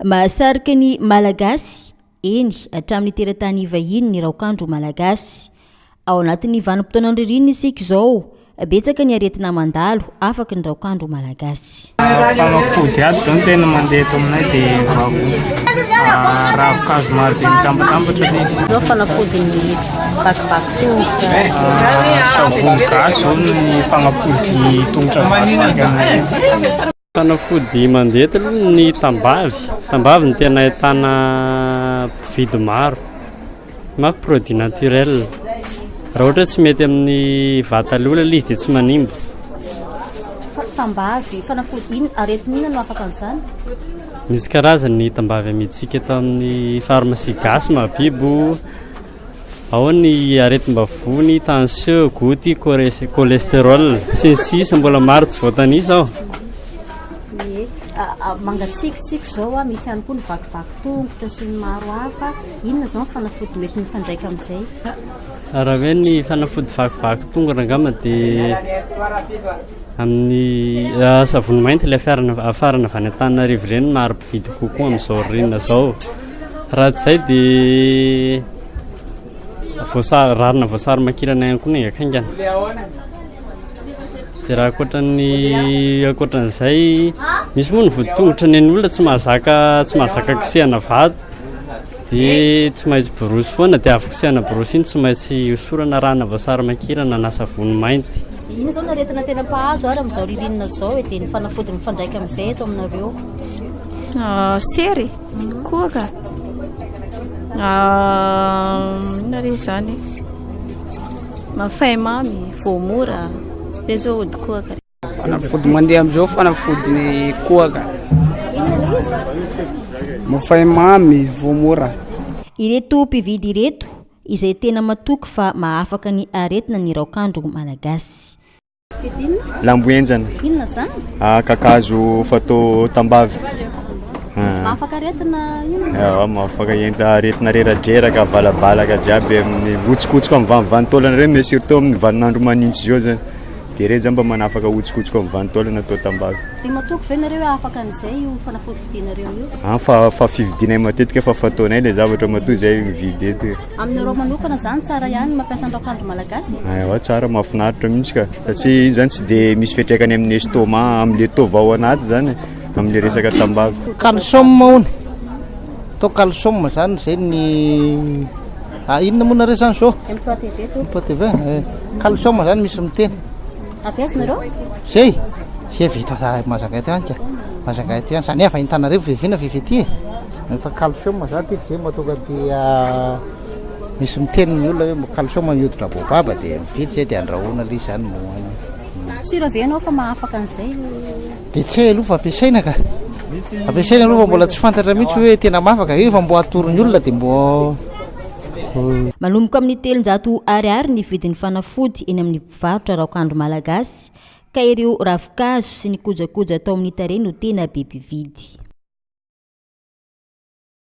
Mahasarika ny Malagasy, eny, hatramin'ny teratany vahiny ny raokandro malagasy. Ao anatin'ny vanim-potoanan'ny ririnina isika izao, betsaka ny aretina mandalo afaky ny raokandro malagasy. Fanafody ato izao no tena mandeha eto aminay dia ah, ravin-kazo maro be mitambatambatra aloha. Izao fanafodin'ny vakivaky tongotra. Ah, savony gasy izao no ny fanafody tongotra vakivaky aminay. Fanafody mandenty aloha ny tambavy, tambavy no tena ahitana mpividy maro, mafy produit naturel, raha ohatra tsy mety amin'ny vatan'ny olona ilay izy dia tsy manimba. Tambavy, fanafody inona, aretina inona no afaka an'izany? Misy karazany ny tambavy amidsika eto amin'ny pharmacie gasy mahabibo. Ao ny aretim-bavony, tension, goty, cholesterol, sy ny sisa mbola maro tsy voatanisa ao. Ie, mangatsiakitsiaka izao a, misy ihany koa ny vakivaky tongotra sy ny maro hafa. Inona izao ny fanafody mety mifandraika amin'izay? Raha hoe ny fanafody vakivaky tongotra angamba dia amin'ny savony mainty ilay afarana avy any Antananarivo ireny no maro mpividy kokoa amin'izao ririnina izao. Raha tsy izay dia voasary, rarina voasary makirana ihany koa ny enga kaingana. Dia raha ankoatran'ny ankoatran'izay, misy moa ny voatongotra ny an'ny olona tsy mahazaka tsy mahazaka kosehana vato dia tsy maintsy borosy foana dia avy kosehana borosy iny tsy maintsy hosorana rana voasary makirana na savony mainty. Iny izao no aretina tena mpahazo ary amin'izao ririnina izao e, dia ny fanafody mifandraika amin'izay eto aminareo. Ah, sery e. Kora? Inona re izany? Mafaimamy, voamora, dia izao ody kohaka. Fanafody mandeha amin'izao fanafody ny kohaka. Inona ilay izy? Mafaimamy, voamora. Ireto mpividy ireto izay tena matoky fa mahafaka ny aretina ny raokandro malagasy. Lambo henjana. Inona zany? Ah, kakazo fatao tambavy. Ah. Mahafaka aretina inona? Eh, ah, mahafaka enta aretina reradreraka, valabalaka jiaby amin'ny hotsikotsoka amin'ny vanivantolana ireny, mais surtout amin'ny vaninandro manintsy izao zany. Dia ireny zany mba manafaka hotsikotsoka amin'ny vanitolana atao tambavy. Dia matoky ve nareo afaka an'izay io fanafody vidinareo io? Ah, fa fa fividinay matetika fa fataonay ilay zavatra matoa izay mividy eto. Aminareo manokana zany tsara ihany ny mampiasa ny raokandro malagasy? Ewa tsara, mahafinaritra mihitsy ka, satria iny zany tsy dia misy fiantraikany amin'ny estomac, amin'ilay taova ao anaty zany e, amin'ilay resaka tambavy. Calcium hono, atao calcium zany zay ny ah, inona moa nareo zany zao? MPTV to. MPTV, eh, calcium zany misy miteny. Avy aiza nareo? Zay, zay vita mazagaty any ka, mazagaty any, zany avy any Tanarivo vivina vivety e. Efa calcium za ty tsy mba tonga dia misy miteny ny olona hoe calcium ny hoditra baobaba dia mividy zay dia andrahoana ilay izany no hohanina. Sûr avy ianao fa mahafaka an'izay? Dia tsy hay aloha fa ampiasaina ka. Ampiasaina aloha fa mbola tsy fantatra mihitsy hoe tena mahafaka. Io efa mbo atoro ny olona dia mbo Manomboka amin'ny telonjato Ar ny vidin'ny fanafody eny amin'ny mpivarotra raokandro malagasy. Ka ireo ravin-kazo sy ny kojakoja atao amin'ny tarehy no tena be mpividy.